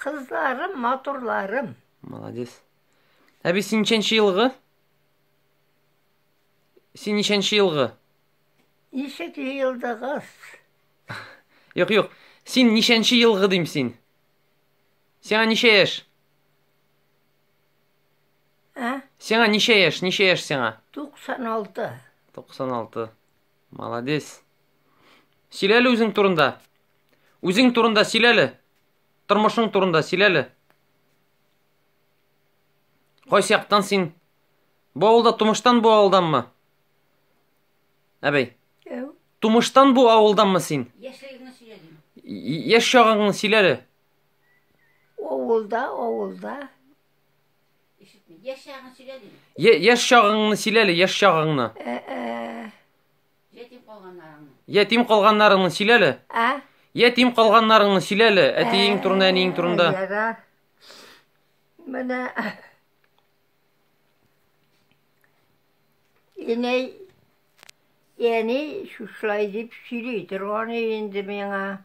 Кызларым, матурларым. Молодец. Әби, син ничәнче елгы? Син ничәнче елгы? Ничек елдыгыз? Юк, юк. Син ничәнче елгы дим син? Сиңа ничә яшь? Ә? Сиңа ничә яшь? Ничә яшь сиңа? 96. 96. Молодец. Сөйләле үзең турында. Үзең турында сөйләле. Тормышың турында сөйләле. Кайсы яктан син? Бу авылда тумыштан бу авылданмы? Әбәй. Әү. Тумыштан бу авылданмы син? Яшьлегеңне сөйләдем. Яшь чагыңны сөйләле. Авылда, авылда. Ишетми. Яшь чагын сөйлә дим. Е- Яшь чагыңны сөйләле, яшь чагыңны. Ә-ә. Ятим калганнарыңны. Ятим калганнарыңны сөйләле. Ә? Ятим калганнарыңны сөйләле. Әтиең турында, әниең турында. Ярар. Менә Инәй яни шушылай дип сөйли торган инде миңа.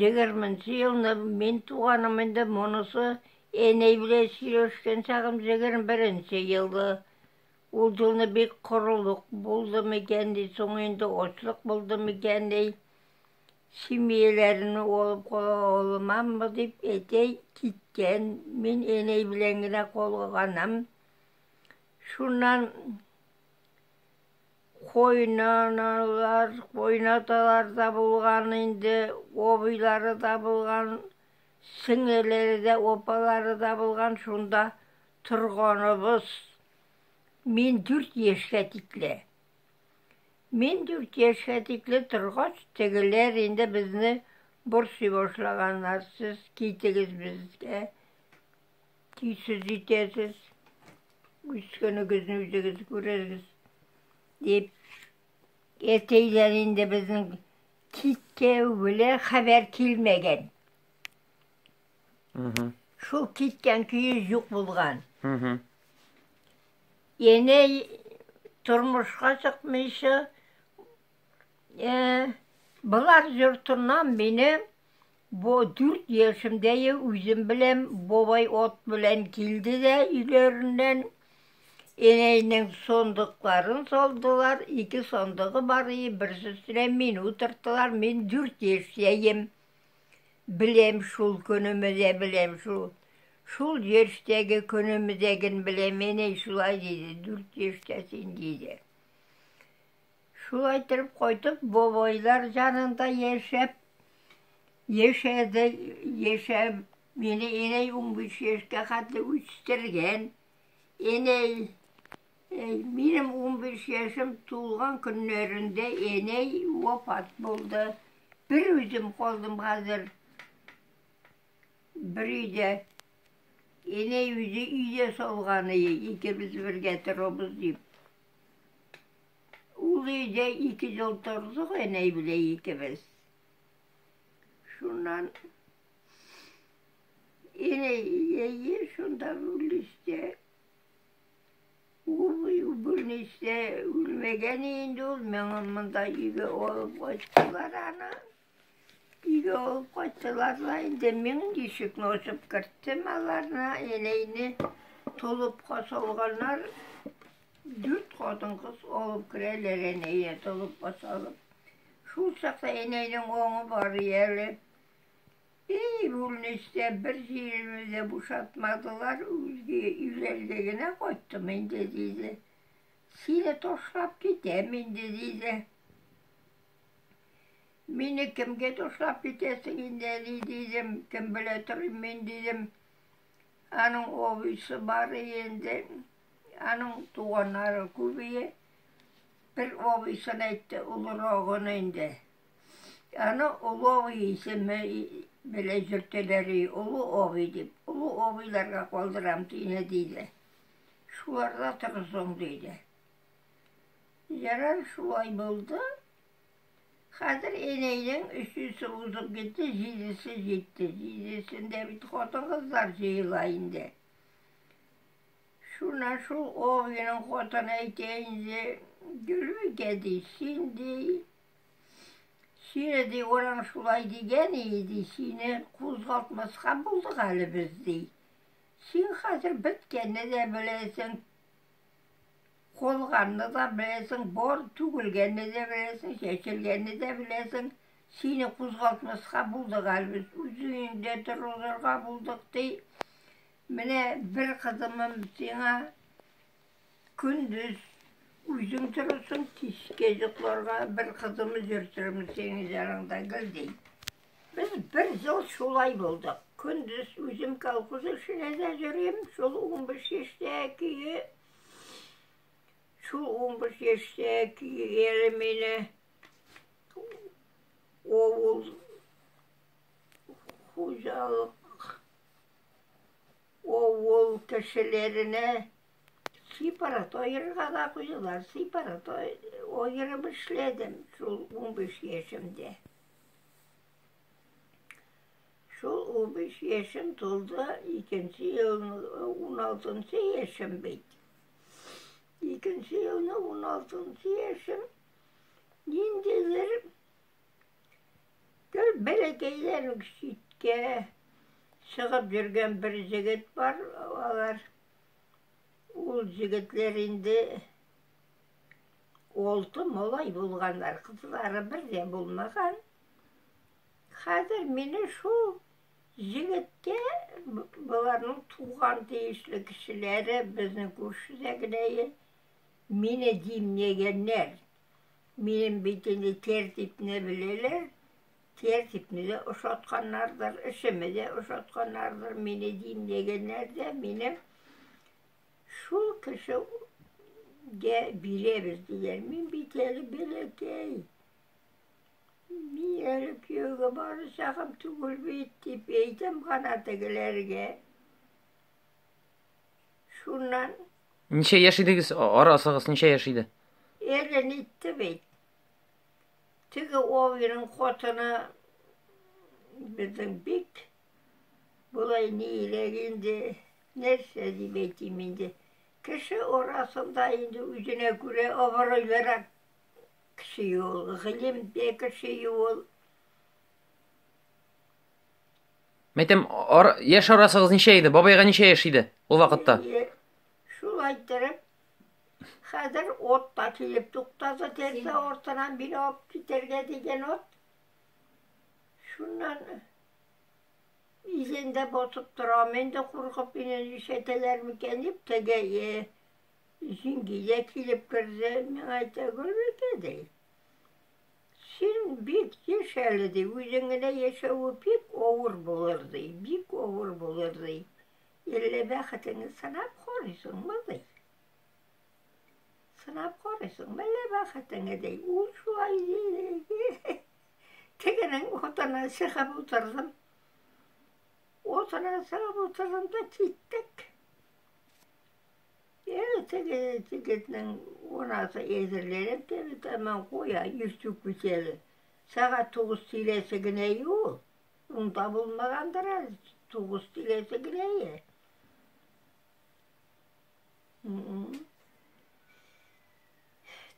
Егерме нче елны мин туганым инде, монысы Эней белән сөйләшкән чагым җегерме беренче елды. Ул җылны бик корылык булды микән ди, соң инде очлык булды микән ди. Семьяләрен алып кала алмаммы дип әтәй киткән, мин энәй белән генә калганым. Шуннан Кайнаналар, кайнаталар да булган инде, абыйлары да булган, сеңелләре дә, апалары да булган, шунда торганыбыз. Мин дүрт яшькә тикле. Мин дүрт яшькә тикле торгач, тегеләр инде безне борчый башлаганнар, сез китегез безгә. Тиз сүз итәсез. Үскәнегезне үзегез күрерсез. Дип әтейләр инде безнең киткәү белән хәбәр килмәгән. Шул киткән көе юк булган. Яне тормышка чыкмыйча Э, Болар йортыннан минем бу дүрт яшемдәге үзем белән бабай от белән килде дә өйләреннән энәйнең сондыкларын салдылар. Ике сондыгы бар иде, берсе өстенә мин утырттылар. Мин дүрт яшьтәем. Беләм шул көнемезә, беләм шул. Шул яшьтәге көнемезәген беләм, энәй шулай диде, дүрт яшьтә син диде. Шулай итеп кайтып, бабайлар янында яшәп, яшәде, яшәп, мине инәй унбиш яшькә хәтле үстергән. Инәй, минем унбиш яшем тулган көннәрендә инәй вафат булды. Бер үзем калдым хәзер. Бер өйдә. Инәй үзе өйдә салган, икебез бергә торабыз дип. Ул өйдә ике ел тордык, әнәй белән икебез. Шуннан әнәй ие шунда үлеште. Ул үлмәгән инде ул, миңа монда өйгә алып кайттылар аны. Өйгә алып кайттылар да инде мин ишекне ачып керттем аларны, инәйне толыпка салганнар. Дүрт хатын-кыз алып керәләр инәйне толыпка салып. Шул чакта инәйнең аңы бар әле. Эй, бүлнистә бер җиремне дә бушатмадылар, үзге өйләргә генә кайттым инде, диде. Сине ташлап китәм инде, диде. Мине кемгә ташлап китәсең инде, әни, дидем. Кем белә торыйм мин, дидем. Аның абыйсы бар инде. Аның туганнары күп ие. Бер абыйсын әйтте, олырагын инде. Аны олы абый исеме белән йөртәләр, олы абый дип. Олы абыйларга калдырам, дине, диде. Шуларда торсын, диде. Ярар шулай булды. Хәзер Энәйнең өчесе узып китте, җидесе җитте. Җидесендә бит хатын-кызлар җыела инде. Шуна шул Огиның хатыны әйтә инде, Гөлбикә ди, син ди, сине ди, ураң шулай дигән иде, сине кузгалтмаска булдык әле без ди. Син хәзер беткәнне дә беләсең, Калганны да беләсең, бар, түгелгәнне дә беләсең, чәчелгәнне дә беләсең. Сине кузгалтмаска булдык әле без, үз өеңдә торырга булдык, ди. Менә бер кызымым сиңа көндез үзең торырсың, кичкә йокларга бер кызымы йөртермен синең яныңда, гел, ди. Без бер ел шулай булдык. Көндез үзем колхоз эшенә дә йөрим, шул 15 яшьтәге шул 15 яшьтәге әле мине авыл хуҗалык авыл кешеләренә сепарат аерырга да куйдылар. Сепарат аерып эшләдем шул 15 яшемдә. Шул 15 яшем тулды, икенче елны 16 яшем бит. Икенче елны 16 яшем ниндидер гел бәләкәйләр читкә чыгып йөргән бер җегет бар, алар ул җегетләр инде Алты малай булганнар, кызлары бер дә булмаган. Хәзер мине шул егеткә боларның туган тиешле кешеләре, безнең күршедә генә мине димләгәннәр. Минем бит инде тәртипне беләләр, тәртипне дә ошатканнардыр, эшемне дә ошатканнардыр, мине димләгәннәр дә, минем Шул кеше гә бирәбез диләр. Мин бит әле бәләкәй. Мин әле кияүгә бары чагым түгел бит, дип әйтәм гана тегеләргә. Шуннан... Ничә яшь идегез? Арасыгыз ничә яшь иде? Әлен итте бит. Теге Овиның котыны безнең бик Болай ни иләк инде, нәрсә дип әйтим инде. Кеше арасында инде үзенә күрә абыройлырак кеше ул, гыйлемдә кеше ул. Мәйтәм, ар, яшь арасыгыз ничә иде? Бабайга ничә яшь иде ул вакытта? Шул әйттереп, хәзер от та килеп туктады, тәрәзә артынан бина алып китәргә дигән от. Шуннан Изендә басып торам, инде куркып, мине ишәтәләр микән дип, теге е, җиңгидә килеп керде, миңа әйтә, Гөлбикә, ди, син бик еш әле, ди, үзең генә яшәве бик авыр булыр, ди, бик авыр булыр, ди. Илле бәхетеңне сынап карыйсыңмы, ди. Сынап карыйсыңмы әллә бәхетеңне, ди. Ул шулай, ди. Тегенең утына чыгып утырдым. Утына чыгып утырдым да киттек. Ел теге егетнең унасы әзерләнеп теге тәмам куя, йөзтү күчәле. Сәгать тугыз тиләсе генә юл. Унда булмагандыр әле, тугыз тиләсе генә е.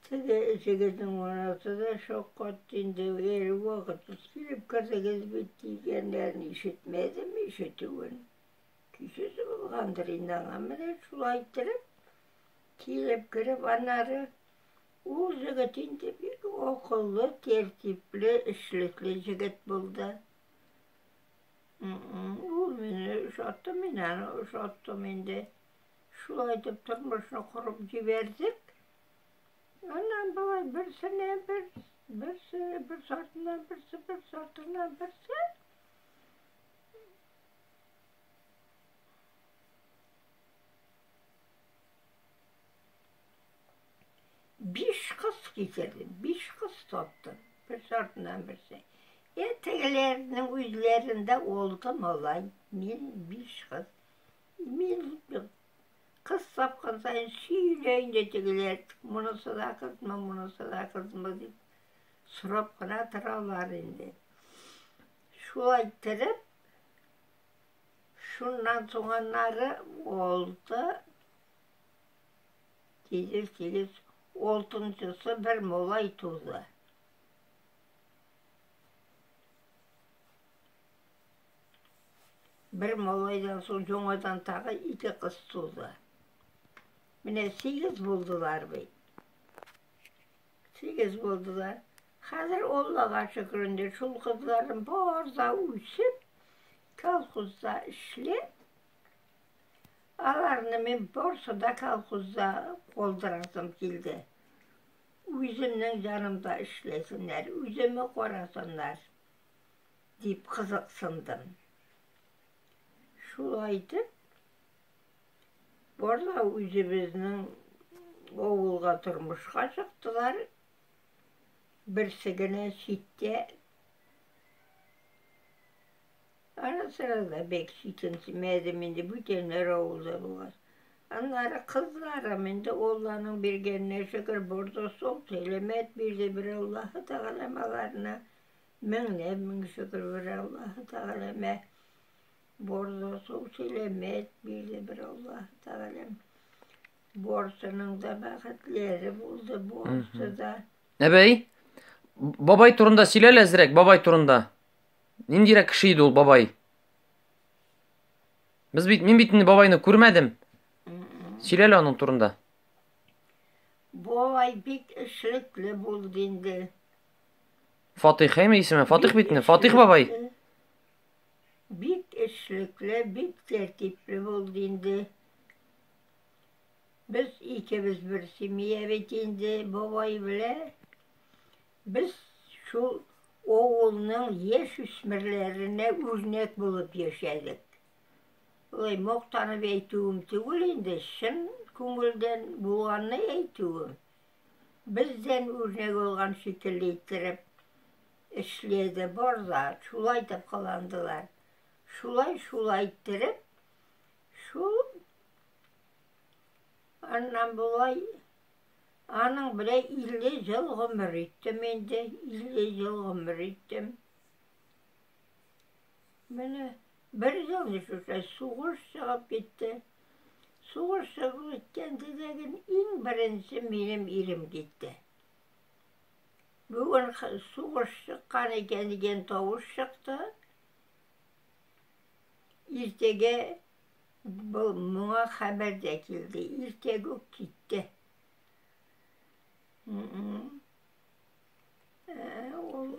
Теге җегетнең анасы да шаккатты инде, әле вакытсыз килеп кердегез бит дигәннәрен ишетмәдем, ишетүен. Көйсез булгандыр инде аңа менә шулай иттереп, килеп кереп аннары Ул җегет инде бик акыллы, тәртипле, эшлекле җегет булды. Ул мине ошатты, мин аны ошаттым инде. Шулай итеп тормышны корып җибәрдек. Аннан болай берсенә бер, берсе, бер сартына берсе, бер сартына берсе. Биш кыз китердем, биш кыз таптым, бер сартынан берсе. Ә тегеләрнең үзләрендә алты малай, мин биш кыз. Мин үттем. Кыз тапкан саен сөйлә инде тегеләр, монысы да кызмы, монысы да кызмы дип сорап кына торалар инде. Шулай иттереп, шуннан соң аннары алты тигез тигез алтынчысы бер малай туды. Бер малайдан соң яңадан тагы ике кыз туды. Менә сигез булдылар бит. Сигез булдылар. Хәзер Аллага шөкер инде шул кызларым бар да үсеп, колхозда эшли. Аларны мин барсы да колхозда калдырасым килде. Үземнең җанымда эшләсеннәр, үземне карасыннар. Дип кызыксындым. Шулай итеп, барлар үзебезнең авылга тормышка чыктылар. Берсе генә читтә. Ара-сырада бик читенсемәдем инде, бүтәннәр авылда булгач. Аннары кызларым инде Алланың биргәненә шөкер борды, сул сәламәт бирде бер Аллаһы Тәгалә аларны. Меңләп мең шөкер бер Аллаһы Тәгаләмә, Борды су сәламәт бирде бер Аллаһы Тәгаләм. Барсының да бәхетләре булды, барсы да. Әбәй, бабай турында сөйләл әзрәк, бабай турында. Ниндирәк кеше иде ул бабай? Без бит, мин бит инде бабайны күрмәдем. Сөйләл аның турында. Бабай бик эшлекле булды инде. Фатих, әйме исеме? Фатих бит инде, Фатих бабай. Бик эшлекле, бик тәртипле булды инде. Без икебез бер семья бит инде бабай белән. Без шул авылның яшь үсмерләренә үрнәк булып яшәдек. Ой, мактанып әйтүем түгел инде, чын күңелдән булганны әйтүем. Бездән үрнәк алган шикелле иттереп эшләде бар да, шулай итеп кыландылар. Шулай, шулай иттереп, шул аннан болай аның белән 50 ел гомер иттем инде, 50 ел гомер иттем. Менә бер елны шушы сугыш чыгып китте. Сугыш чыгып киткәндә дәген иң беренче минем ирем китте. Бүген сугыш чыккан икән дигән тавыш чыкты. Иртәгә был моңа хәбәр дә килде. Иртәгә үк китте.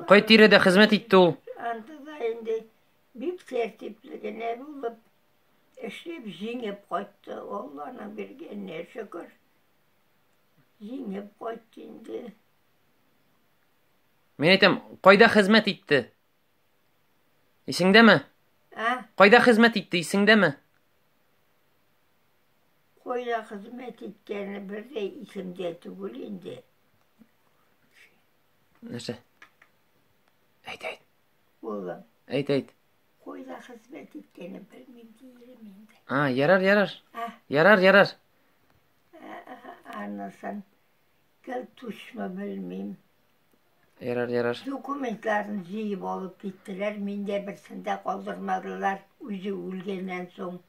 Кай тирәдә хезмәт итте ул? Андыда инде бик тәртипле генә булып, эшләп җиңеп кайтты. Алланың биргәненә шөкер. Җиңеп кайтты инде. Мин әйтәм, кайда хезмәт итте? Исеңдәме? Ә? Кайда хезмәт итте, исеңдәме? Кайда хезмәт иткәне бер дә исемдә түгел инде. Нәрсә? Әйт, әйт. Улым. Әйт, әйт. Койда хезмәт иткәне белмим диелем инде. А, ярар, ярар. А? Ярар, ярар. Анысын гел тушмы белмим. Ярар, ярар. Документларын җыеп алып киттеләр, миндә берсен дә калдырмадылар, үзе үлгәннән соң.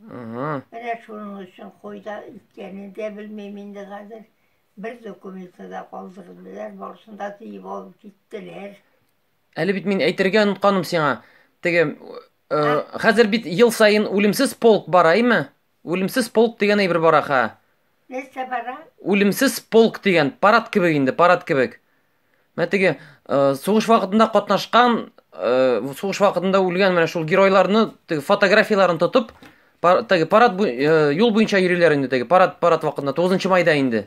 Менә шуның өчен кайда икәнен дә белмим инде хәзер. Бер документы да калдырмыйлар, барысын да тиеп алып киттеләр. Әле бит мин әйтергә онытканым сиңа. Теге э, хәзер бит ел саен үлемсез полк бара, әйме? Үлемсез полк дигән әйбер бара ха. Нәрсә бара? Үлемсез полк дигән парад кебек инде, парад кебек. Менә теге э, сугыш вакытында катнашкан, э, сугыш вакытында үлгән менә шул геройларны теге фотографияләрен тотып, пар, теге парад бу, э, юл буенча йөриләр инде теге парад парад вакытында 9 майда инде.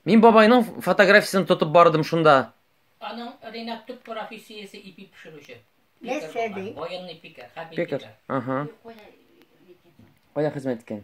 Мин бабайның фотографиясен тотып бардым шунда. Аның Ренат төп профессиясе ипи пешерүче. Нәрсә ди? Военный пикер, хәрби пикер. Ага. Кая хезмәт иткән?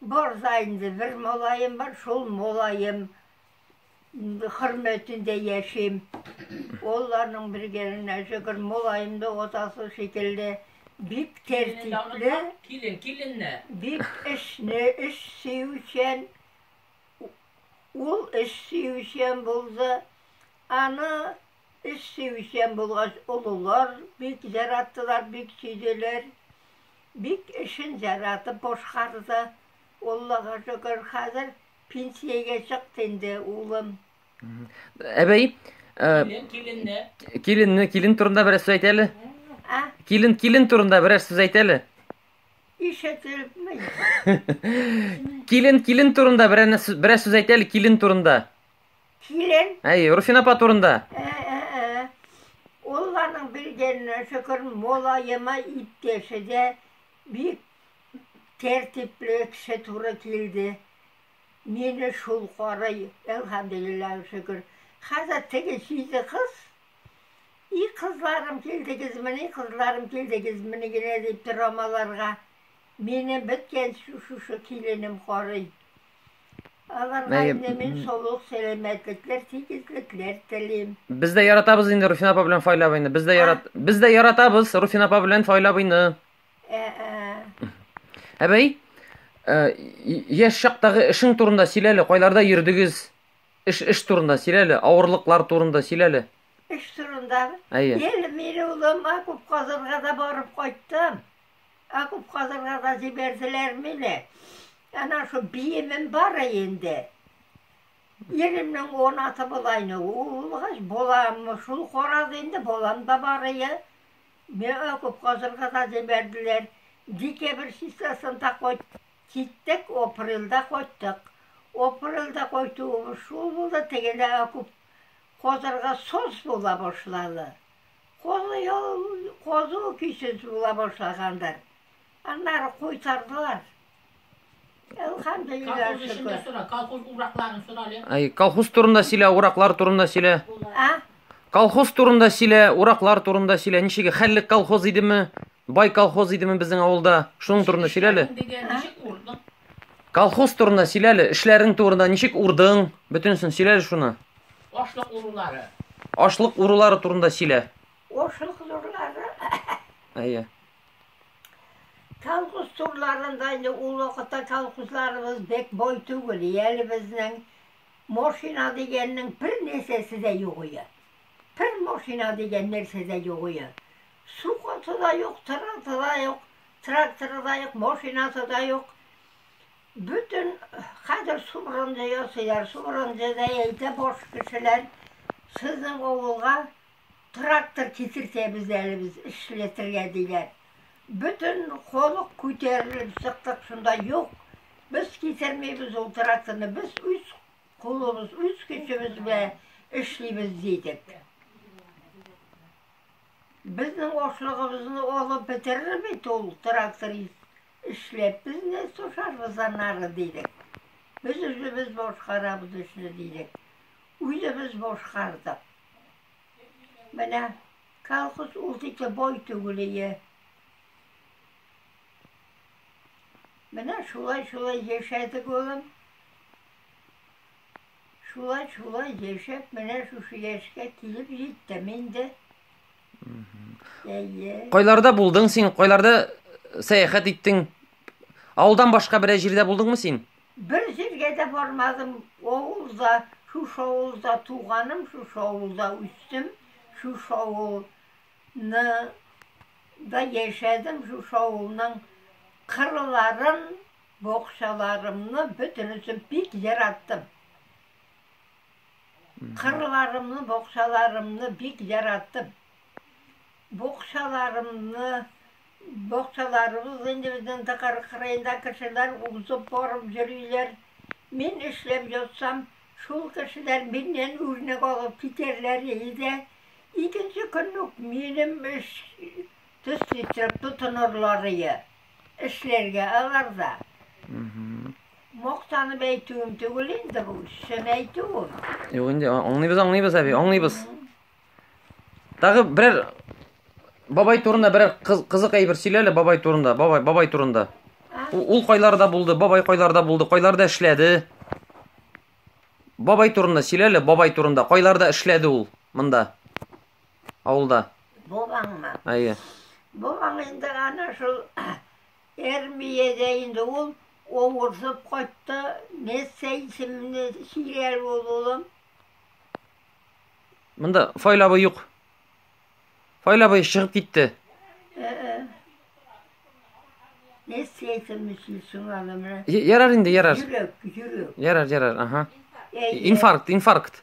Бар да инде, бер малаем бар, шул малаем хөрмәтендә яшим. Олларның бергәлегенә шөкер, малаем да атасы шикелле бик тәртипле, килен, киленне. Бик эшне, эш сөючән. Ул эш сөючән булды. Аны Эш сөючән булгач, олылар бик җараттылар, бик сөйделәр. Бик эшен җаратып башкарды. Аллага шөкер, хәзер пенсиягә чыкты инде улым. Әбәй, киленне. Киленне, килен турында берәр сүз әйтә әле. Ә? Килен, килен турында берәр сүз әйтә әле. Ишетелмәй. Килен, килен турында берәр берәр сүз әйтә әле килен турында. Кирен. Әй, Руфин апа турында. Ә, ә, ә. Ул аның белгәненә шөкер, молаема иптәше дә бик тәртипле кеше туры килде. Мине шул карый, әлхәмдулиллаһ шөкер. Хәзер теге җиде кыз и кызларым килдегезмени, кызларым килдегезмени генә дип торам аларга. Мине беткән шушы киленем карый. Аларга инде мин солых сәламәтлекләр, тигезлекләр телим. Без дә яратабыз инде Руфин апа белән Фаил абыйны. Без дә ярат без дә яратабыз Руфин апа белән Фаил абыйны. Ә, ә. Әбәй, ә, яшь чактагы эшең турында сөйләле, кайларда йөрдегез? Эш эш турында сөйләле, авырлыклар турында сөйләле. Эш турында. Әйе. Ел мин улыма күп казырга да барып кайттым. Окоп казырга да җибәрделәрме ни? Әнә шул биемем бар инде. Иремнең он аты булайны, ул булгач, балам шул карады инде, балам да бар ие. Миңа окоп казырга да җибәрделәр. Декабрь числосында кайт, киттек, апрельдә кайттык. Апрельдә кайтуыбыз шул булды, тегелә окоп казырга сос була башлады. Казу яу, казу көйсез була башлагандыр. Аннары куйтардылар. Элхамдулилла Колхоз эшен дә шөкер. сора, колхоз уракларын сора әле. Ай, колхоз турында сөйлә, ураклар турында сөйлә. А? Колхоз турында сөйлә, ураклар турында сөйлә. Ничек хәллек колхоз идеме? Бай колхоз идеме безнең авылда? Шуның турында сөйлә әле. Эшләдең дигән, ничек урдың? Колхоз турында сөйләле, эшләрең турында, ничек урдың, бөтенесен сөйләле шуны. Ашлык урулары. Ашлык урулары турында сөйлә. Ашлык урулары. Әйе. Колхоз турларында инде ул вакытта колхозларыбыз бик бай түгел, әле безнең машина дигәннең бер нәрсәсе дә юк иде. Бер машина дигән нәрсә дә юк иде. Су каты да юк, тырылты да юк, тракторы да юк, машинасы да юк. Бөтен хәзер субрынды ясыйлар, субрынды да әйтә баш кешеләр, сезнең авылга трактор китертәбез әле без эшләтергә диләр. Бөтен халык күтәрелеп чыктык шунда, юк, без китермибез ул тракторны, без үз кулыбыз, үз көчебез белән эшлибез дидек. Безнең ашлыгыбызны алып бетерер бит ул тракторист, эшләп без нә сушарбыз аннары, дидек. Без үзебез башкарабыз эшне, дидек. Үзебез башкардык. Менә колхоз ул тикле бай түгел ие. Менә шулай-шулай яшәдек, улым. Шулай, шулай яшәп, менә шушы яшькә килеп җиттем инде. Әйе. Кайларда булдың син? Кайларда э, сәяхәт иттең? Авылдан башка берәй җирдә булдыңмы син? Бер җиргә дә бармадым. Авылда, шушы авылда туганым, шушы авылда үстем, шушы авылны да яшәдем, шушы авылның кырларын Бакчаларымны бөтенесен бик яраттым. Кырларымны, бакчаларымны бик яраттым. Бакчаларымны, бакчаларыбыз инде безнең Дакар кырыенда кешеләр узып барып йөриләр. Мин эшләп ятсам, шул кешеләр миннән үрнәк алып китәрләр иде. Икенче көн үк минем эш төсле итеп тотынырлар иде. Эшләргә алар да. Мактанып әйтүем түгел инде бу, чын әйтүем. Юк инде, аңлыйбыз, аңлыйбыз, әби, аңлыйбыз. Тагы берәр бабай турында берәр кызык әйбер сөйләле бабай турында, бабай, бабай турында. Ул кайларда булды, бабай кайларда булды, кайларда эшләде? Бабай турында сөйләле, бабай турында. Кайларда эшләде ул монда? Авылда. Бабаңмы? Әйе. Бабаң инде ана шул Эрмиядә инде ул авырсып кайтты. Нессе исемле сөйләр ул улым. Монда Файл абый юк. Файл абый чыгып китте. Нессе исемле сөйлсең аны менә. Ярар инде, ярар. Йөрәк, йөрәк. Ярар, ярар, ага. Инфаркт, инфаркт.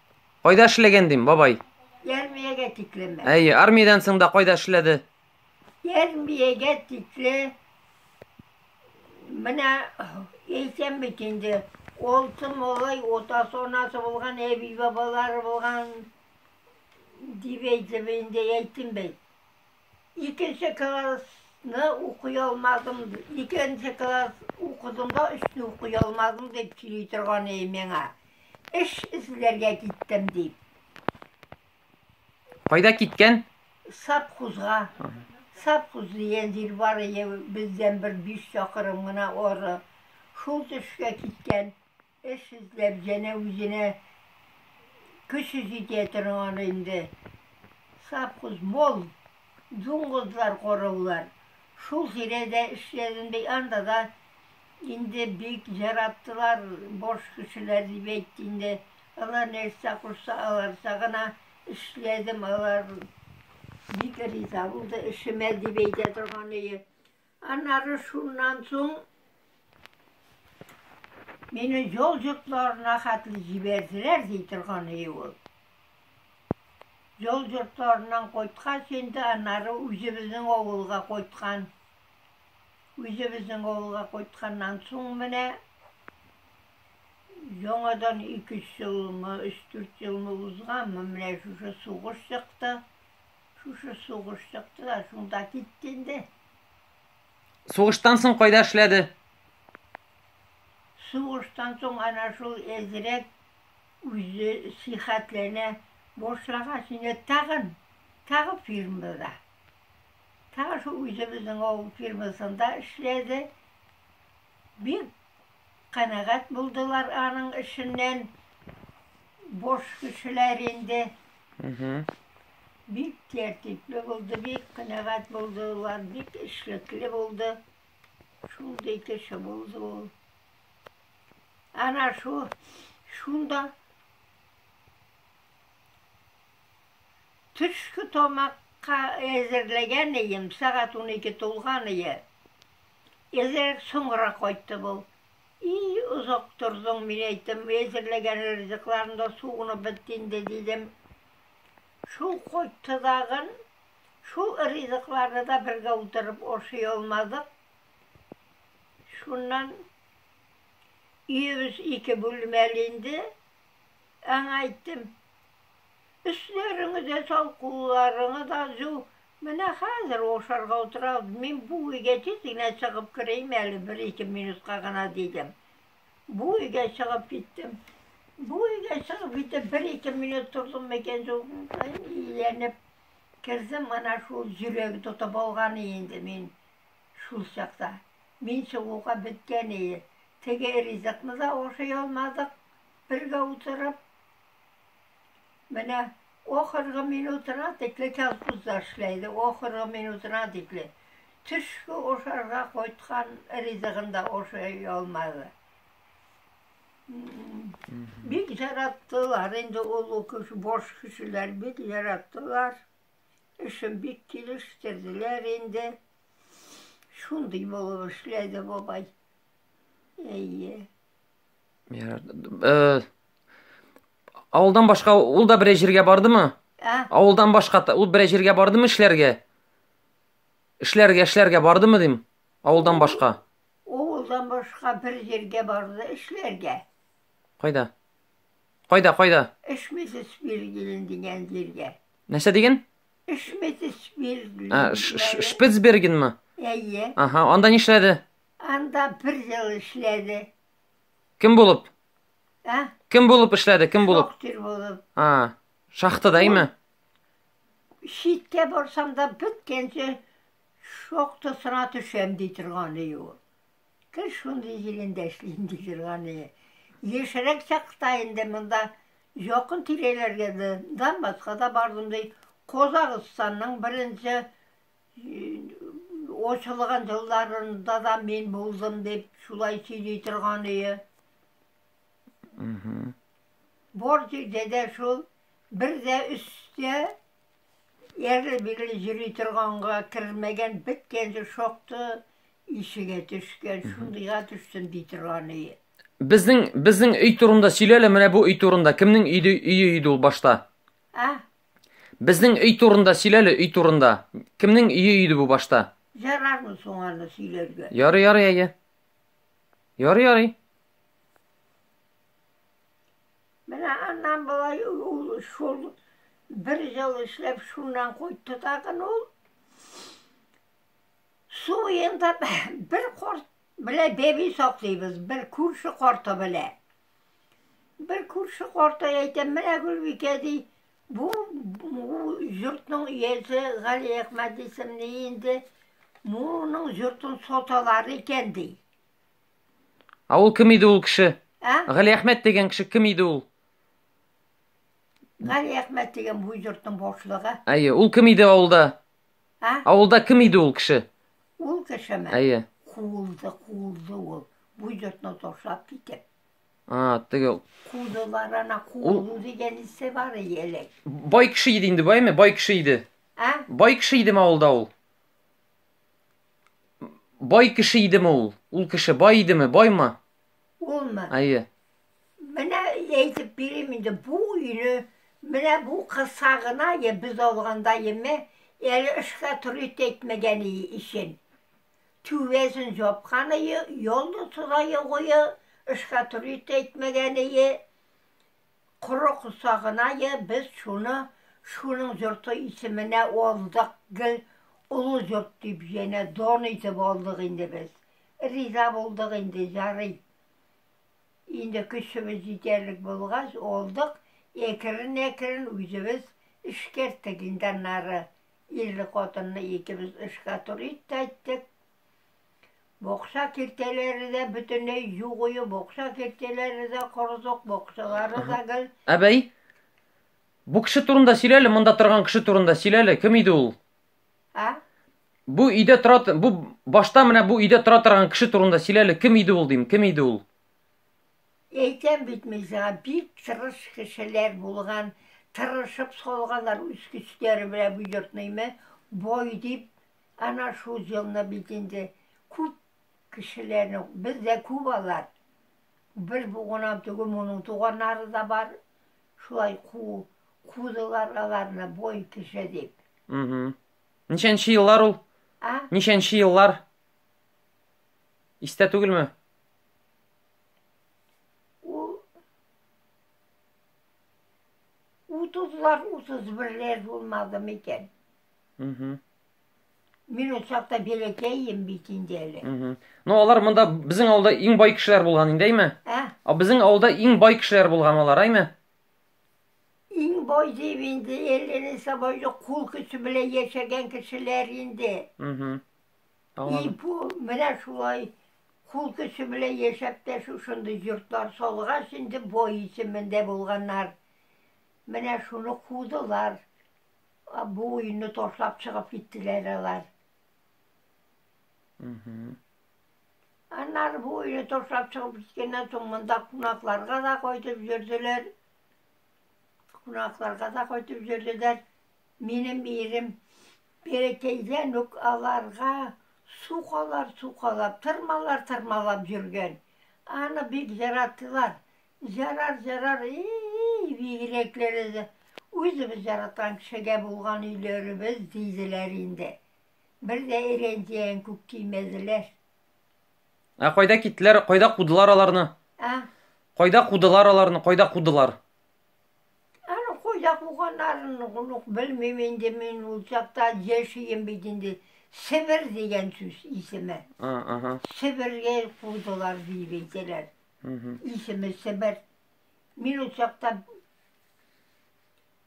Кайда эшләгән дим, бабай? Ярмиягә тикле мә. Әйе, армиядән соң да кайда эшләде? Ярмиягә тикле менә әйтәм бит инде, олты малай, отасы, анасы булган, әби бабалары булган дип әйтеп инде әйттем бит. Икенче классны укый алмадым, икенче класс укыдым да, өчне укый алмадым дип сөйли торган иде миңа. Эш эзләргә киттем дип. Кайда киткән? Сапхузга. Сапхуз дигән җир бар иде, бездән бер биш чакрым гына ары. Шул төшкә киткән. Эш эзләп җәнә үзенә көче җитә торган инде. Совхоз мол, дуңгызлар, корылар. Шул тирәдә эшләдем ди, анда да инде бик җараттылар, баш кешеләр дип әйт инде. Алар нәрсә кушса, аларча гына эшләдем, алар бик риза булды эшемә, дип әйтә торган иде. Аннары шуннан соң мине җол йортларына хәтле җибәрделәр, ди торган иде ул. Җол йортларыннан кайткач, инде аннары үзебезнең авылга кайткан. Үзебезнең авылга кайтканнан соң менә яңадан 2-3 елмы, 3-4 елмы узганмы, менә шушы сугыш чыкты. Шушы сугыш чыкты да, шунда китте инде. Сугыштан соң кайда эшләде? Сугыштан соң ана шул әзрәк үзе сихәтләнә башлагач инде тагын, тагы фирмада. Тагы шул үзебезнең авыл фирмасында эшләде. Бик Канәгать булдылар аның эшеннән. Бош кешеләр инде. Бик тәртипле булды, бик канәгать булдылар, бик эшлекле булды. Шундый кеше булды ул. Ана шу, шунда төшке тамакка әзерләгән ием, сәгать унике тулган ие. Эзрәк соңгырак кайтты бу. И, озак тордың, мин әйттем, әзерләгән ризыкларың да суынып бетте инде, дидем. Шул кайтты тагын. Шул ризыкларны да бергә утырып ашый алмадык. Шуннан өебез ике бүлмәле инде. Аңа әйттем, өсләреңне дә сал, кулларыңны да җу, Менә хәзер ул ашарга утыра алды, мин бу өйгә тиз генә чыгып керим әле, бер-ике минутка гына, дидем. Бу өйгә чыгып киттем. Бу өйгә чыгып китеп, бер-ике минут тордым микән, зурынкаем иеләнеп кердем, ана шул йөрәге тотып алган инде мин шул чакта. Мин чыгуга беткән иде. Теге ризыкны да ашый алмадык, бергә утырып. Менә ахыргы минутына тикле колхозда эшләй иде, ахыргы минутына тикле. Төшке ашарга кайткан ризыгын да ашый алмады. Бик яраттылар инде ул укыш баш кешеләр, бик яраттылар. Эшен бик килештерделәр инде. Шундый булып эшләде бабай. Әйе. Ярар. Э, Авылдан башка ул да берәй җиргә бардымы? Ә? Авылдан башка ул берәй җиргә бардымы эшләргә? Эшләргә, эшләргә бардымы дим? Авылдан башка. Авылдан башка бер җиргә барды эшләргә. Кайда? Кайда, кайда? Эшмесез Биргелен дигән җиргә. Нәрсә диген? Эшмесез Биргелен. Ә, Шпицбергенме? Әйе. Аһа, анда нишләде? Анда бер ел эшләде. Кем булып? Ә? Кем булып эшләде? Кем булып? Шахтер булып. А, шахтада име? Читкә барсам да беткәнче шахтасына төшәм ди торган ие ул. Кыз шундый җирендә эшлим ди торган ие. Яшьрәк чакта инде монда якын тирәләргә дә Донбасска да бардым ди. Казакъстанның беренче ачылган елларында да мин булдым дип шулай сөйли торган ие. Борт өйдә дә шул, бер дә өстә ярлы-бирле йөри торганга кермәгән, беткәнче шокты ишегә төшкән, шундыйга төштем ди торган өе. Безнең безнең өй турында сөйлә әле, менә бу өй турында. Кемнең өйде өе иде ул башта? А? Безнең өй турында сөйлә әле, өй турында. Кемнең өе иде бу башта? Ярармы соң аны сөйләргә? Ярый, ярый, әйе. Ярый, ярый. Менә аннан болай ул шул бер ел эшләп шуннан кайтты тагын ул. Су буенда бер корт белә бәби саклыйбыз, бер күрше корты белә. Бер күрше корты әйтә, менә Гөлбикә ди, Бу йортның иясе Гали Әхмәт исемле инде моның йортын саталар икән ди. А ул кем иде ул кеше? Ә? Гали Әхмәт дигән кеше кем иде ул? Гали Әхмәт дигән бу йортның башлыгы. Әйе, ул кем иде авылда? Ә? Авылда кем иде ул кеше? Ул кешеме? Әйе. Кулды, кулды ул. Бу йортны ташлап китеп. А, теге Кудылар ана куду дигән исе бар элек. Бай кеше иде инде байме? Бай кеше иде. А? Бай кеше идеме авылда ул? Бай кеше идеме ул? Ул кеше бай идеме? Байма? Улмы? Әйе. Менә әйтеп бирим инде бу өйне менә бу кыса гына я без алганда яме әле эшкә туры әйтмәгән өчен. Түбәсен җапканыя, ялны тозае гое, эшкә турит әйтмәгәнее, коры косагынае, без шуны шуның җорты исеменә алдык, гел олы җорт дип җәнә дан итеп алдык инде без. Риза булдык инде, җарый. Инде көчебез җитәрлек булгач, алдык, әкрен-әкрен үзебез эшкәрттек инде аннары. Ирле хатынлы икебез эшкә туры кайттык. Бокса киртәләре дә бөтенләй югые, бокса киртәләре дә кордык, боксалары да гел. Әбәй, бу кеше турында сөйләле, монда торган кеше турында сөйләле, кем иде ул? А? Бу өйдә тора, бу башта менә бу өйдә тора торган кеше турында сөйләле, кем иде ул дим, кем иде ул? Әйтәм бит мин сиңа, бик тырыш кешеләр булган, тырышып салганнар үз көчләре белән бу йортныйме, бай дип, ана шул җылны бит инде күп кешеләрне, без дә күп алар. Бер бу гына түгел, моның туганнары да бар. Шулай ку, кудылар аларны бай кеше дип. Угу. Ничәнче еллар ул? А? Ничәнче еллар? Истә түгелме? Ул 30-лар, 31-ләр булмады микән? Угу. Мин ул чакта бәләкәйем бит инде әле. Угу. Ну, алар монда безнең авылда иң бай кешеләр булган инде, әйме? Ә? А безнең авылда иң бай кешеләр булган алар, әйме? Иң бай дип инде, әлләне сабайды кул көче белән яшәгән кешеләр инде. Угу. И бу менә шулай кул көче белән яшәп тә шушындый йортлар салгач инде бай исемендә булганнар. Менә шуны кудылар. Бу өйне ташлап чыгып киттеләр алар. Аннары бу өйне ташлап чыгып киткәннән соң монда кунакларга да кайтып йөрделәр. Кунакларга да кайтып йөрделәр. Минем ирем бәләкәйдән үк аларга су калар, су калап, тырмалар, тырмалап йөргән. Аны бик яраттылар. Ярар, ярар, и-и-и, бигрәкләре дә үзебез яраткан кешегә булган өйләребез, диделәр инде. Бер дә ирәндиен күк кимәделәр. Ә кайда киттеләр, кайда кудылар аларны? А? Кайда кудылар аларны, кайда кудылар? Әле хуҗа куганнарын онык белмим инде мин ул чакта яшием бит инде. Себер дигән сүз исеме. Ага. Себергә кудылар дип әйтәләр. Исеме Себер. Мин ул чакта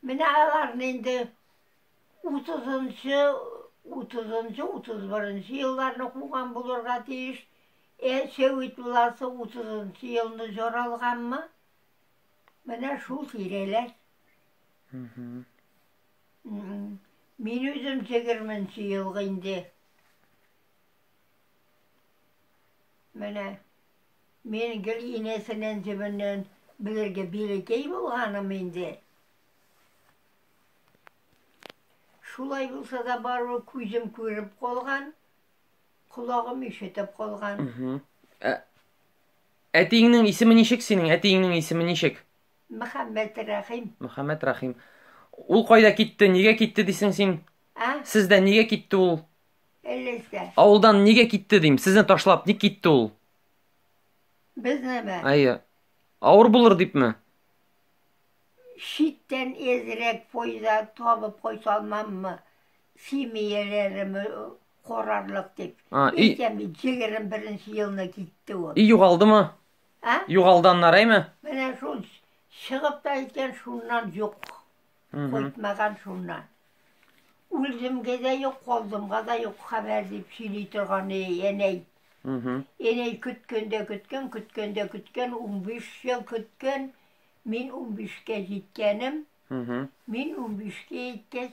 менә аларны инде 30-нчы 30-нчы 31-нчы елларны куган булырга тиеш. Ә Сәвит буласы 30-нчы елны җоралганмы? Менә шул тирәләр. Мин үзем егерменче елга инде. Менә мин гел инәсеннән җебеннән белергә бирекәй булганым инде. Шулай булса да бару күзем күреп калган, колагым ишетеп калган. Ә Әтиеңнең исеме ничек синең? Әтиеңнең исеме ничек? Мөхәммәт Рәхим. Мөхәммәт Рәхим. Ул кайда китте? Нигә китте дисең син? А? Сездә нигә китте ул? Элестә. Авылдан нигә китте дим? Сезне ташлап ник китте ул? Безнеме? Әйе. Авыр булыр дипме? Читтән эзрәк фойда табып кайта алмаммы? Семьяләрем Корарлык дип. А, и... Икән бит 21 елны китте ул. И югалдымы? А? Югалды аннары әйме? Менә шул чыгып та икән шуннан юк. Кайтмаган шуннан. Үлдемгә дә юк, калдымга да юк хәбәр дип сөйли торган әнәй. Әнәй көткәндә көткән, көткәндә көткән, 15 ел көткән. Мин 15-кә җиткәнем. Мин 15-кә иткәч,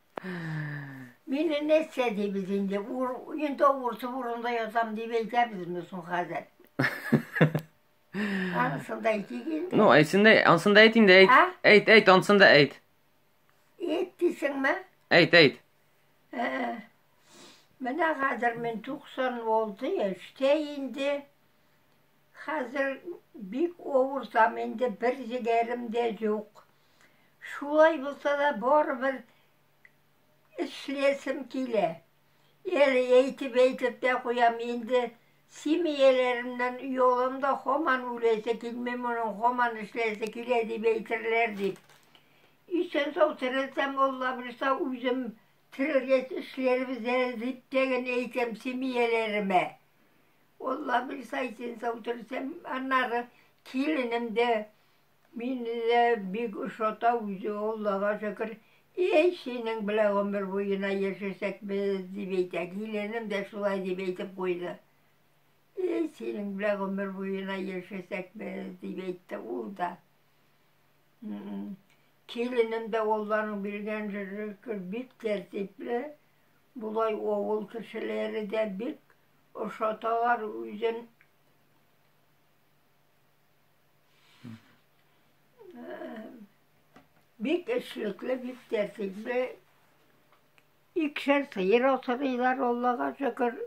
Мин нәрсә дибез инде? Ур, инде уртып урында ятам дип әйтәбезме соң хәзер? Ансын да әйтик инде. Ну, әйтсен дә, ансын да әйт инде, әйт. А? Әйт, әйт, ансын да әйт. Әйт дисеңме? Әйт, әйт. Ә, Менә хәзер мин 96 яшьтә инде. Хәзер бик авыртам инде, бер җегәрем дә юк. Шулай булса да, барыбер эшләсем килә. Әле әйтеп-әйтеп тә куям, инде семьяларымнан оялам да, һаман үләсе килми, моның һаман эшләсе килә дип әйтерләр дип. Исән сау терелсәм, Алла бирса, үзем терелгәч эшләрбез әле дип тә генә әйтәм семьяләремә. Алла бирса, исән сау терелсәм, аннары киленем дә Мине дә бик ошата үзе ул, Аллага шөкер. Әй, синең белән гомер буена яшәсәк без, дип әйтә. Киленем дә шулай дип әйтеп куйды. Әй, синең белән гомер буена яшәсәк без, дип әйтте ул да. Киленем дә Алланың биргән шөкер бик тәртипле. Болай авыл кешеләре дә бик ошаталар үзен. Бик эшлекле, бик тәртипле. Икшәр сыер асырыйлар, Аллага шөкер.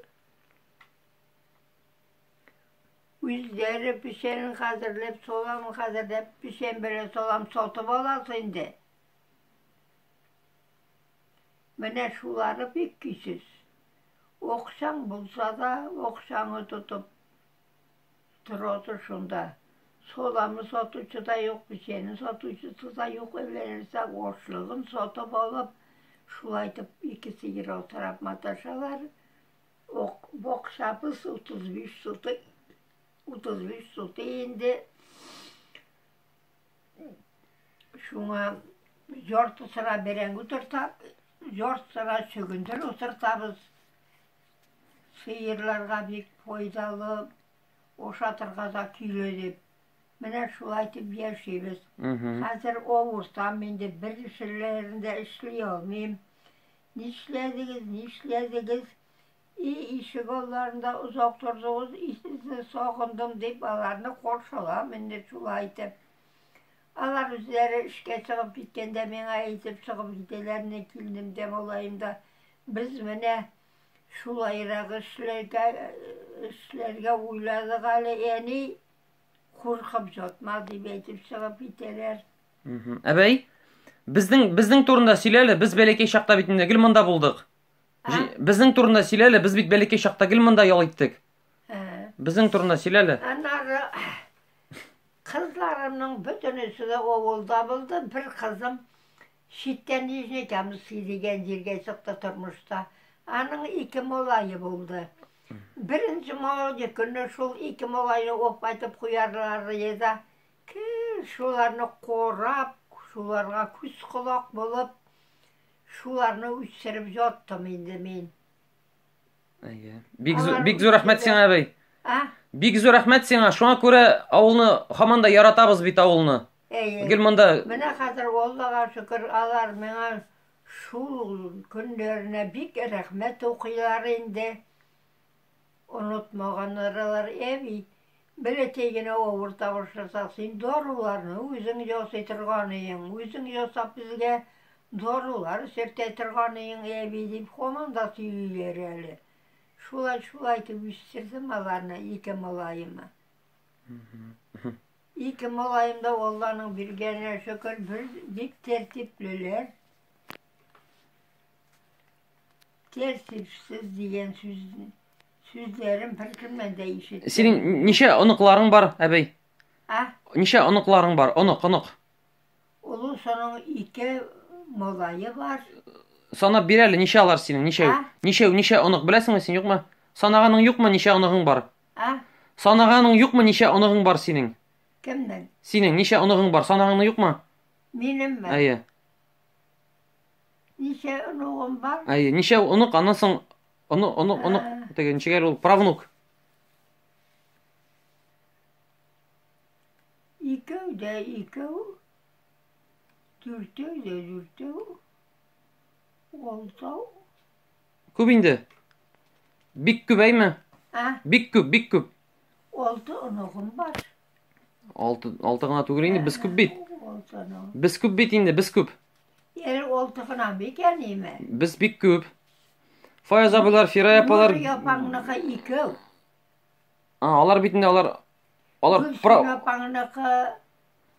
Үзләре печәнен хәзерләп, саламын хәзерләп, печән белән салам сатып аласы инде. Менә шулары бик кисез. Оксаң булса да, оксаңы тотып, Торасы шунда. Соламы сатучы да юк, печене сатучысы да юк, эверелсә ашлыгын сатып алып, шулай итеп ике сыер асрап маташалар. Ок, бакчабыз 35 сотык, 35 сотык инде. Шуңа яртысына бәрәңге утыртабыз, яртысына чөгендер утыртабыз. Сыерларга бик файдалы, ашатырга да көйле дип. Менә шулай итеп яшибез. Хәзер авыртам инде, бер эшләрендә эшли алмыйм. Нишләдегез, нишләдегез? И, ишек алларында озак тордыгыз, и, сезне сагындым, дип аларны каршылам инде шулай итеп. Алар үзләре эшкә чыгып киткәндә миңа әйтеп чыгып китәләр, ни килнем дә, малаем да, без менә шулайрак эшләргә, эшләргә уйладык әле, әни, куркып ятма, дип әйтеп чыгып китәләр. Мгм. Әбәй, безнең безнең турында сөйлә әле. Без бәләкәй чакта бит инде гел монда булдык. Җи- Безнең турында сөйлә әле. Без бит бәләкәй чакта гел монда ял иттек. Безнең турында сөйлә әле. Аннары кызларымның бөтенесе дә авылда булды. Бер кызым читтән Нижний Камский дигән җиргә чыкты тормышта. Аның ике малае булды. Беренче малае көнне шул ике малайны оп айтып куярлары еді. Кел шуларны корап, шуларга күз колак булып, шуларны үстереп яттым инде мин. Әйе. Бик зур, бик зур рәхмәт сиңа, әбей. А? Бик зур рәхмәт сиңа. Шуңа күрә авылны һаман да яратабыз бит авылны. Әйе. Гел монда. Менә хәзер Аллага шөкер, алар миңа шул көннәренә бик рәхмәт укыйлар инде. Онытмаганнар алар, әби. Бәләкәй генә авыр тавыш ясап, син даруларны үзең ясый торганыең, үзең ясап безгә дарулар сөртә торганыең, әби, дип һаман да сөйлиләр әле. Шулай, шулай итеп үстердем аларны, ике малаемны. Ике малаем да Алланың биргәненә шөкер, бер бик тәртиплеләр. Тәртипсез дигән сүз Сүзләрем беркемнән дә ишетмәдем. Синең ничә оныкларың бар, әбей? А? Ничә оныкларың бар? Онык, онык. Олы соның ике малайы бар. Санап бир әле, ничә алар синең? Ничә? А? Ничә, ничә онык беләсеңме син, юкмы? Санаганың юкмы, ничә оныгың бар? А? Санаганың юкмы, ничә оныгың бар синең? Кемнең? Синең ничә оныгың бар? Санаганың юкмы? Минем бар. Әйе. Ничә оныгым бар? Әйе, ничә онык, аннан соң Онык, онык, онык. Теге ничек әле ул правнук. Икәү дә икәү. Дүртәү дә дүртәү. Алтау. Күп инде. Бик күп әйме? Ә? Бик күп, бик күп. Алты оныгым бар. Алты, алты гына түгел инде, без күп бит. Без күп бит инде, без күп. Ел алты гына бит я неме? Без бик күп. Фаяз абылар, Фирая апалар. Япаңныкы икәү. А, алар бит инде алар алар про Япаңныкы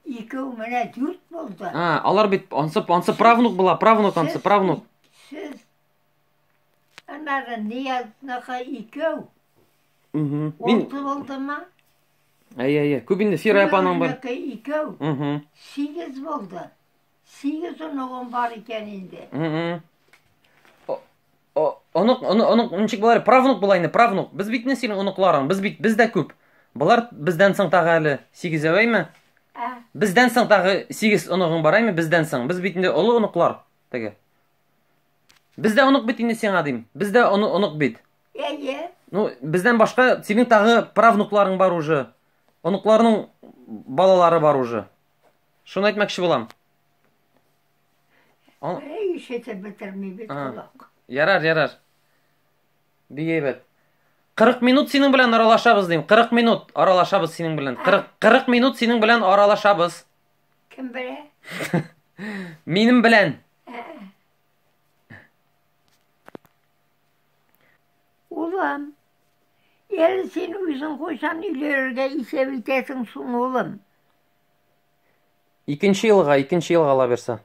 икәү менә дүрт булды. А, алар бит ансы ансы правнук була, правнук ансы правнук. Сез Аннары Ниязныка икәү. Мин... Олты булдымы? Әйе, әйе. Күп инде Фира апаның бар. Икәү, икәү. Угу. Сигез булды. Сигез оныгым бар икән инде. Угу. Онык, онык, онык, ничек булар? Правнук була инде, правнук. Без бит не синең оныкларың, без бит без дә күп. Болар бездән соң тагы әле сигез әйме? Ә. Бездән соң тагы сигез оныгың бар әйме? Бездән соң. Без бит инде олы оныклар. Теге. Без дә онык бит инде сиңа дим. Без дә онык бит. Әйе. Ну, бездән башка синең тагы правнукларың бар уже. Оныкларның балалары бар уже. Шуны әйтмәкче булам. Ай, ишетеп бетермибез колак. Ярар, ярар. Бик әйбәт. 40 минут синең белән аралашабыз дим. 40 минут аралашабыз синең белән. 40 40 минут синең белән аралашабыз. Кем белә? Минем белән. Улым, әле син үзең кайчан өйләргә исәп итәсең соң, улым? Икенче елга, икенче елга ала бирсә.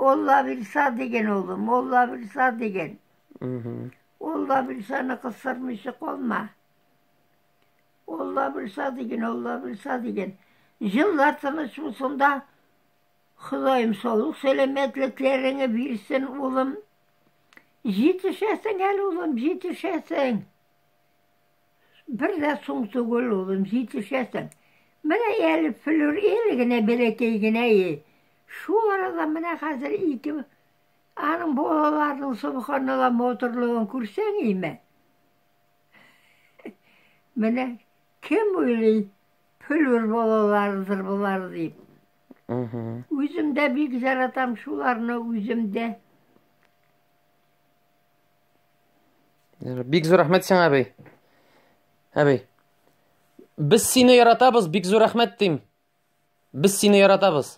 Алла бирса деген улым, Алла бирса деген. Алла бирсәне кысырмыйча калма. Алла булса диген, Алла булса диген. Җыллар тыныч булсын да, Ходаем саулык сәламәтлекләреңе бирсен, улым. Җитешәсең әле, улым, җитешәсең. Бер дә соң түгел, улым, җитешәсең. Менә әле флюр ел генә бәләкәй генә е. Шул арада менә хәзер ике аның балаларының субханалла матурлыгын күрсәң име? Менә кем уйлый, пөлүр балалардыр болар дип. Үзем дә бик яратам шуларны үзем дә. Бик зур рәхмәт сиңа, әби. Әби. Без сине яратабыз, бик зур рәхмәт дим. Без сине яратабыз.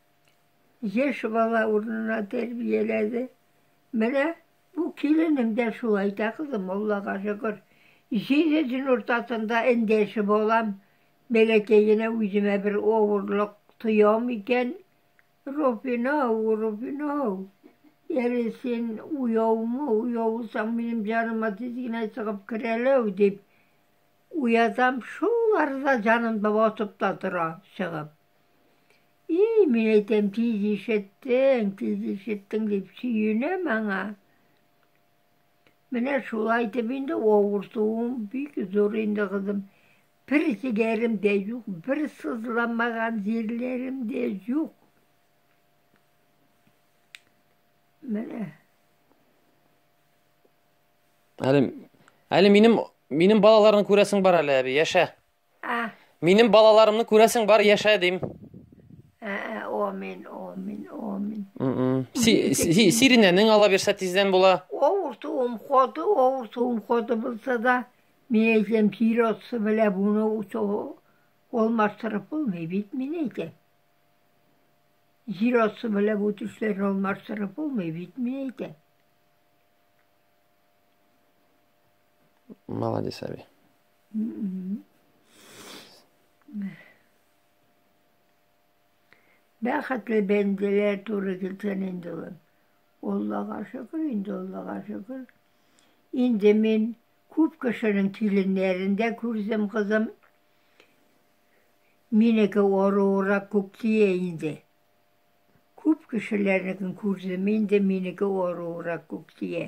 Яшь бала урынына тәрбияләде. Менә бу киленем дә шулай да, кызым, Аллага шөкер. Җиде дин уртасында эндәше балам. Бәләкәй генә үземә бер авырлык тоям икән, Роббинау, Роббинау, әле син уяумы, уяусаң, минем җаныма тиз генә чыгып керәләү, дип уятам, шул арада җаным да батып та тора, чыгып. И, мин әйтәм, тиз ишеттең, тиз ишеттең дип сөенәм аңа. Менә шулай итеп инде авыртуым бик зур инде, кызым. Бер сигәрем дә юк, бер сызламаган җирләрем дә юк. Менә. Әле, әле минем, минем балаларны күрәсең бар әле, әби, яшә. А. Минем балаларымны күрәсең бар яшә дим. Амин, амин, амин. Сиринәнең ала бирсә тиздән була. Авыртуым каты, авыртуым каты булса да, мин әйтәм, тир атсы белә буны уту алмаштырып булмый бит, мин әйтәм. Җир атсы белә бу төшләрне алмаштырып булмый бит, мин әйтәм. Молодец, Аби. Бәхетле бәндәләр туры килсен инде ул. Аллага шөкер, инде Аллага шөкер. Инде мин күп кешенең киленнәрен дә күрдем, кызым. Минеке оруырак күп тия инде. Күп кешеләрнекен күрдем, инде минеке оруырак күп тия.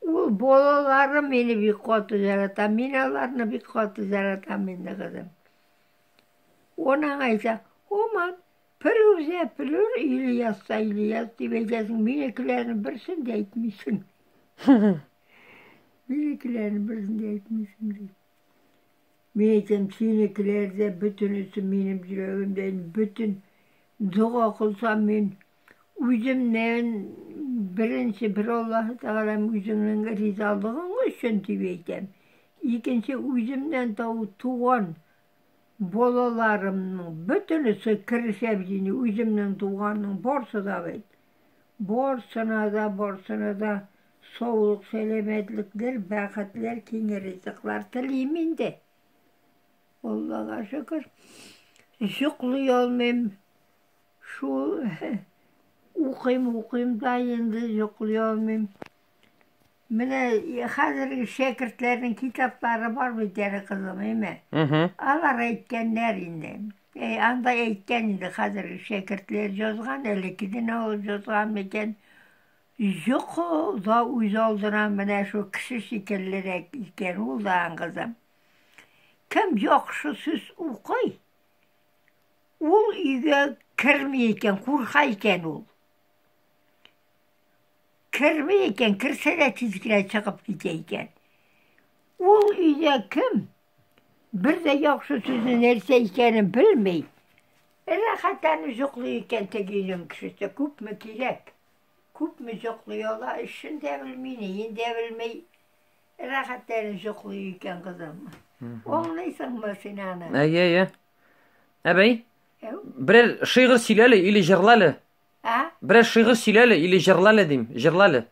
Ул балалары мине бик каты ярата, мин аларны бик каты яратам инде, кызым. Он аңа әйтә, Оман, Пелүрзә, Пелүр, Ильясса, Ильяс дип әйтәсең, минекеләрнең берсен дә әйтмисең. Минекеләрнең берсен дә әйтмисең, ди. Мин әйтәм, синекеләр дә бөтенесе минем йөрәгемдә, бөтен дога кылсам мин, Үземнән беренче бер Аллаһы Тәгаләм үзеңнең ризалыгың өчен дип әйтәм. Икенче үземнән тау туган балаларымның бөтенесе керешә бит үземнең туганның барсы да бит. Барсына да, барсына да саулык, сәламәтлекләр, бәхетләр, киң ризыклар телим инде. Аллага шөкер. Йоклый алмыйм. Шул укыйм, укыйм да инде йоклый алмыйм. Менә хәзерге шәкертләрнең китаплары бар бит әле, кызым, әйме? Алар әйткәннәр инде. Әй, анда әйткән инде хәзерге шәкертләр язган, элеккедән ул язган микән? Йоко да үз алдына менә шул кеше шикеллерәк икән ул да, кызым. Кем яхшы сүз укый, Ул өйгә керми икән, курка икән ул. Керми икән, керсә дә тиз генә чыгып китә икән. Ул өйдә кем? Бер дә яхшы сүзне нәрсә икәнен белми. Рәхәтләнеп җоклый икән теге өйнең кешесе, күпме кирәк? Күпме җоклый ала, эшен дә белми, неен дә белми. Рәхәтләнеп җоклый икән кызым. Аңлыйсыңмы син аны? Әйе, әйе. Әбәй? Берәр шигырь сөйләле или җырлале. А? Берәр шигырь сөйләле или җырлале дим, җырлале.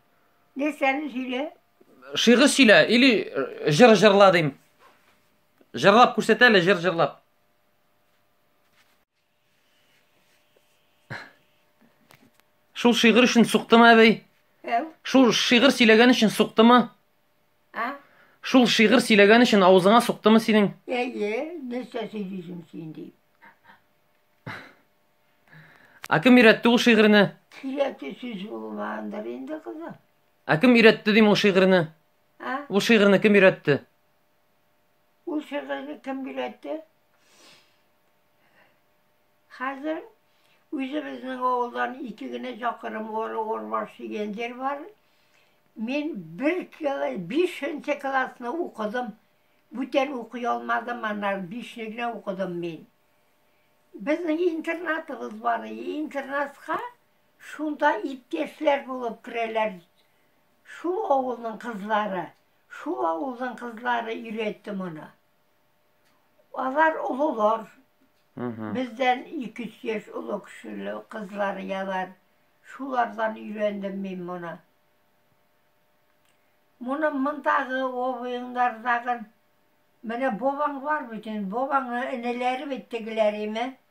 Нәрсәне сөйлә? Шигырь сөйлә или э, җыр җырла дим. Җырлап күрсәт әле, җыр җырлап. Шул шигырь өчен суктымы әбәй? Шул шигырь сөйләгән өчен суктымы? А? Шул шигырь сөйләгән өчен авызыңа суктымы синең? Әйе, нәрсә сөйлисең син ди. Ә кем өйрәтте ул шигырьне? Кирәкле сүз булмагандыр инде кызым. Ә кем өйрәтте дим ул шигырьне? А? Ул шигырьне кем өйрәтте? Ул шигырьне кем өйрәтте? Хәзер үзебезнең авылдан ике генә чакырым Горы Урбаш дигән җир бар. Мин бер кило, бишенче классны укыдым. Бүтән укый алмадым, ана бишне генә укыдым мин. Безнең интернатыбыз бар, интернатка шунда иптәшләр булып керәләр. Шул авылның кызлары, шул авылның кызлары өйрәтте моны. Алар олылар. Бездән 2-3 яшь олы кешеле кызлар ялар. Шулардан өйрәндем мин моны. Моны мондагы обоеңнардагы менә бабаң бар бит инде, бабаңның энеләре бит тегеләр име?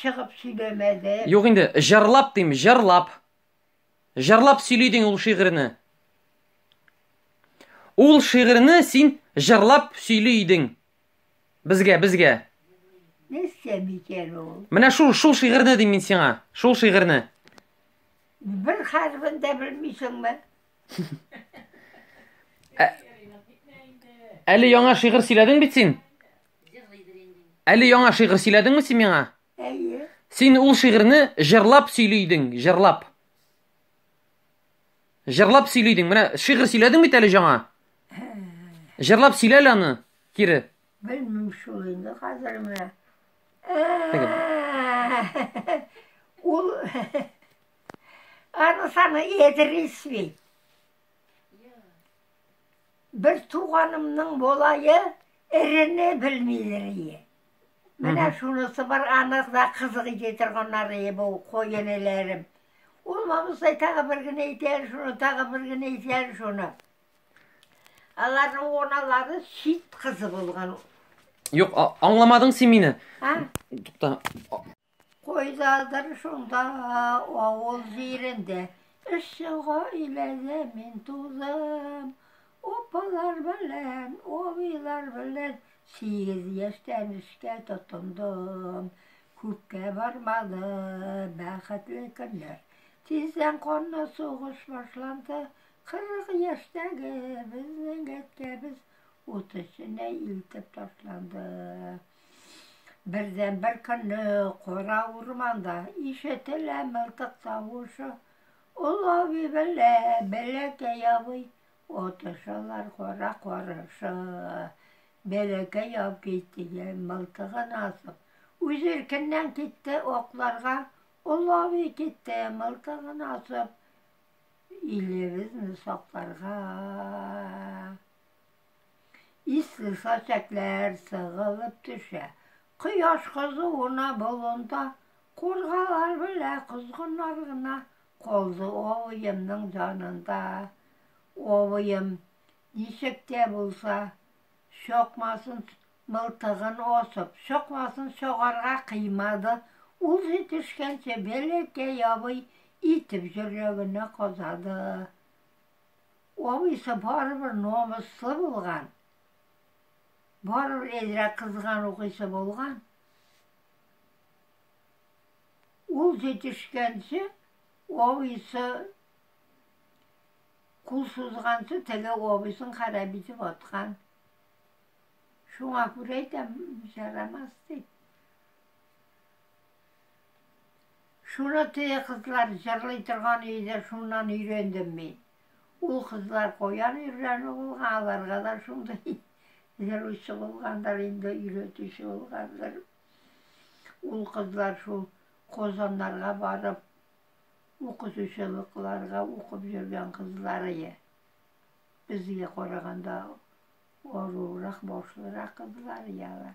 чыгып сөйләмәде. Юк инде, җырлап дим, җырлап. Җырлап сөйли дин ул шигырьне. Ул шигырьне син җырлап сөйли идең. Безгә, безгә. Нәрсә бикәр ул? Менә шул шул шигырьне дим мин сиңа. Шул шигырьне. Бер хәрбен дә белмисеңме? Әле яңа шигырь сөйләдең бит син. Әле яңа шигырь сөйләдеңме син миңа? Әйе. Син ул шигырьне җырлап сөйли идең, җырлап. Җырлап сөйли идең. Менә шигырь сөйләдең бит әле яңа. Җырлап сөйлә әле аны кире. Белмим шул инде хәзер менә. Ул Аны саны Эдрис бит. Бер туганымның болае эрене белмидер ие. Менә шунысы бар, анык да кызык итә торганнар ие бу коен эләрем. Ул мамысай тагы бер генә итәр шуны, тагы бер генә итәр шуны. Аларның оналары чит кызы булган. Юк, а- аңламадың син мине. А? Тукта. Кайдадыр шунда авыл җирендә Эшче гаиләдә мин тудым. Апалар белән, абыйлар белән Сигез яшьтән эшкә тотындым. Күпкә бармады бәхетле көннәр. Тиздән канлы сугыш башланды. Кырык яшьтәге безнең әткәбез Ут эченә илтеп ташланды. Бердән бер көнне кара урманда ишетелә мылтык тавышы. Олы абый белә бәләкәй абый отышалар кара карышы. Бәләкәй абый дигән мылтыгын асып, үз иркеннән китте окларга. Олы абый китте мылтыгын асып, илебезне сакларга. Исле сачәкләр сыгылып төшә. Кояш кызуына болында, Кургалар белә козгыннар гына. Калды абыемның җанында. Абыем, ничек тә булса, Чакмасын мылтыгын асып, Чакмасын чагарга кыймады. Ул җитешкәнче бәләкәй абый Итеп җөрәгенә казады. Абыйсы барыбер намуслы булган, барыбер әзрәк кызган укыйсы булган. Ул җитешкәнче, абыйсы кул сузганчы, теге абыйсын харап итеп аткан. Шуңа күрә әйтәм, ярамас дип. Шуны теге кызлар җырлый торган иде, шуннан өйрәндем мин. Ул кызлар каян өйрәнү булган, аларга да шундый җыручы булгандыр инде, өйрәтүче булгандыр. Ул кызлар шул Казаннарга барып, укытучылыкларга укып йөргән кызлар ие. Безгә караганда арурак, башлырак кызлар ие алар.